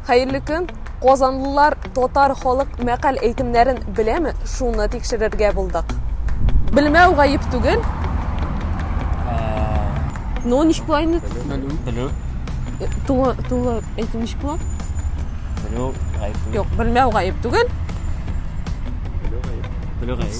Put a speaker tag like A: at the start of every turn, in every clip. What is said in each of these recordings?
A: Хәерле көн! Казанлылар татар халык мәкаль әйтемнәрен беләме? Шуны тикшерергә булдык. Белмәү гаеп түгел. Ну, ничек була инде? Белү. Белү.
B: Тулы,
A: тулы әйтү ничек була? Белү
B: гаеп түгел. Юк, белмәү гаеп
A: түгел. Белү гаеп.
B: Белү гаеп.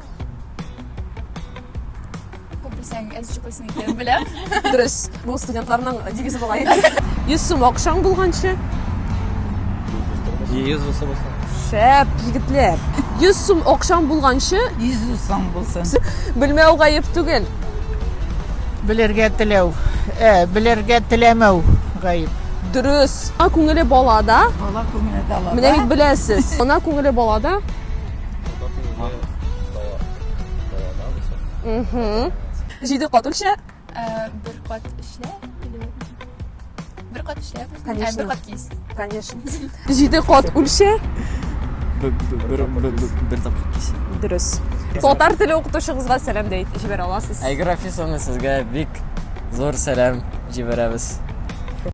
C: Күп белсәң, әз чыклыйсың икәнен беләм. Дөрес. Бу
A: студентларның девизы була инде. 100 сум акчаң булганчы.
B: Йөз булса булса. Шәп,
A: егетләр. 100 сум акчаң булганчы, Йөз усаң булсын.
D: белмәү гаеп
A: түгел.
D: Белергә теләү. Э, белергә теләмәү гаеп. Дөрес. Ана
A: күңеле балада. Бала күңеле дала.
D: Менә бит беләсез.
A: Ана күңеле балада. Җиде кат үлчә. Бер кат эшлә. Бер кат эшлә.
C: Конечно. Бер кат кис. Конечно.
A: Җиде кат үлчә. Бер
B: бер тапкыр кис. Дөрес.
A: Татар теле укытучыгызга сәлам дә
B: җибәрә
A: аласыз.
B: Айгыр
A: Афисовна,
B: сезгә
A: бик
B: зур
A: сәлам җибәрәбез.